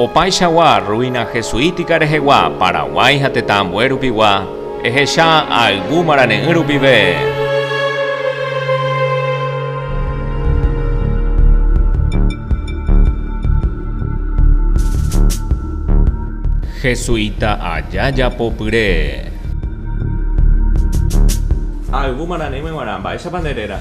Opaichagua ruina jesuítica rehegua Paraguái ha tetã ambue rupigua, ehecha ayvu marane'ỹ rupive. Jesuita aja japopyre. Ayvu marane'ỹme guarã, mba'éichapa nde réra?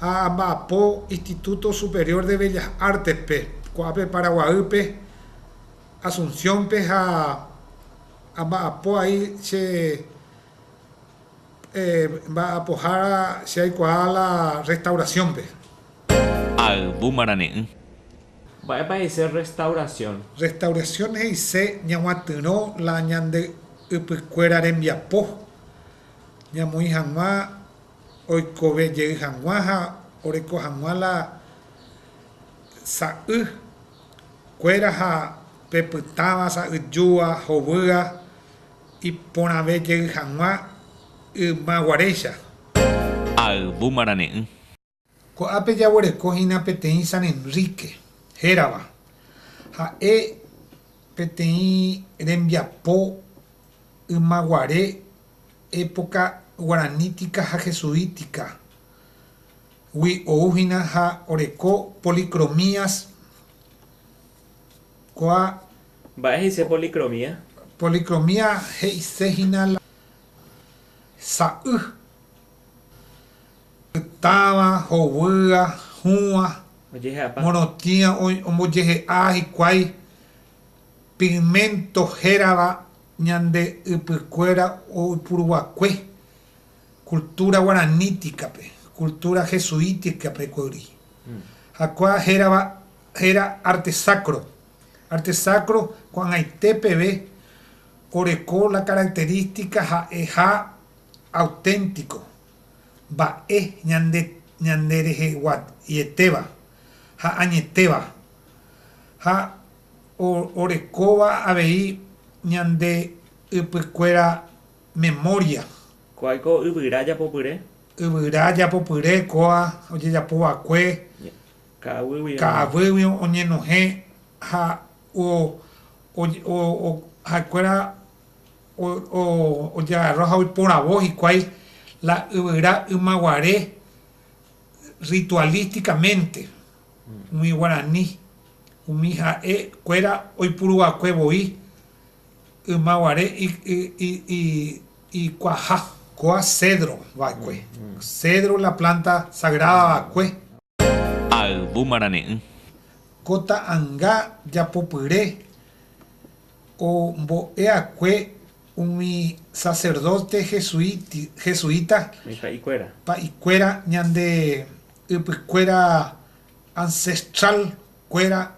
ha amba'apo Instituto Superior de Bellas Artes-pe, ko'ápe Paraguaýpe, Asunción-pe ha amba'apo ai che mba'apohára che aikuaa la restauración-pe. Ha yvy marane'ỹ. Mba'épa he'ise rrestaurasión? Rrestaurasión he'ise ñaguatyrõ la ñande ypykuéra rembiapo ñamoĩ hag̃ua. oikove jey hag̃ua ha oreko hag̃ua la sa'y kuéra ha pepytãva sa'yjúva hovýa iporãve jey hag̃ua ymaguaréicha. Ayvu marane'ỹ. Ko'ápe jaguereko hína peteĩ San Enrique hérava. Ha'e peteĩ rembiapo ymaguare época guaranítica ha jesuítica gui ou hína ha oreko policromías koa. Mba'e he'ise policromía? Policromía he'ise hína la sa'y. Pytãva, hovýa, hũva, morotĩa ombojehe'a hikuái pigmento hérava ñande ypykuéra oipuruva'ekue cultura guaraníticape, cultura jesuíticape guári. Ha kua hérava héra arte sacro. Arte sacro ko'ag̃aite peve oreko la característica ha'eha auténtiko, mba'e ñande ñandereheguaietéva ha añetéva ha orekóva avei ñande ypykuéra memória. Ko'áiko yvyra japopyre. Yvyra japopyre kóa ojejapo va'ekue ka'aguýgui oñenohẽ ha ha'ekuéra Ojegarro ha oiporavo hikuái la yvyra ymaguare ritualísticamente umi guarani, umi ha'e kuéra oipuru va'ekue voi ymaguare ikuaha. Koa cedro va'ekue, cedro la planta sagrada va'ekue. Ayvu marane'ỹ. Ko ta'anga japopyre ombo'eakue umi sacerdote jesuita pa'ikuéra ñande ypykuéra ancestral kuéra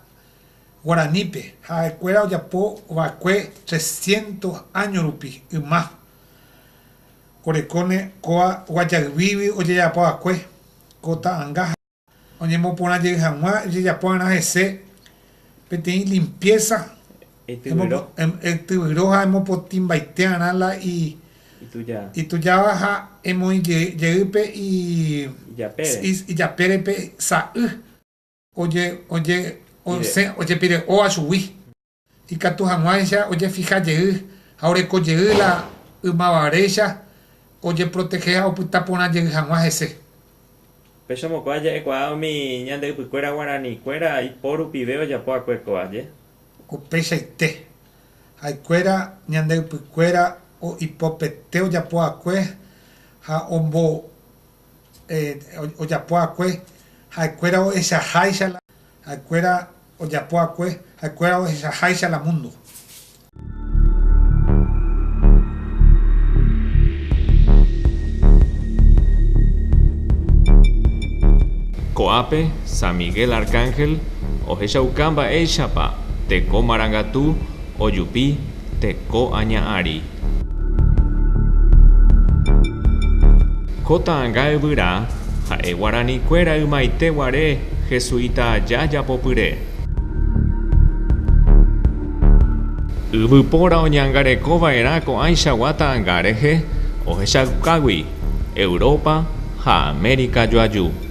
guaranípe ha'ekuéra ojapo va'ekue trescientos año rupi yma orekóne kóa Guajayguýgui ojejapo va'ekue Ko ta'anga ha oñemoporã jey hag̃ua ejejapo va'erã hese peteĩ limpieza, etyvyro ha emopotĩmbaite va'erã la itujáva ha emoĩ jey pe ijapére pe sa'y ojepire'óva chugui. Ikatu hag̃uáicha ojefiha jey ha oreko jey la ymavavéicha ojeprotehe ha opyta porã jey hag̃ua hese. Péicha mokoa ja'ekuaa umi ñande ypykuéra guaranikuéra ipo rupive ojapo akue ko aje. Upeichaite, ha'ekuéra ñande ypykuéra ipopete ojapo akue ha ombo ojapo akue ha'ekuéra ohechaháicha la ha'ekuéra Ojapo akue ha'ekuéra ohechaháicha la múndo. Ko'ápe San Miguel Arcángel ohechauka mba'éichapa teko marangatu ojupi teko aña ary. Ko ta'ãnga yvyra ha'e guarani kuéra ymaite guare jesuita aja japopyre. Yvypóra oñangareko vaerã ko'ãichagua ta'ãnga rehe ohechaukágui Europa ha América joaju.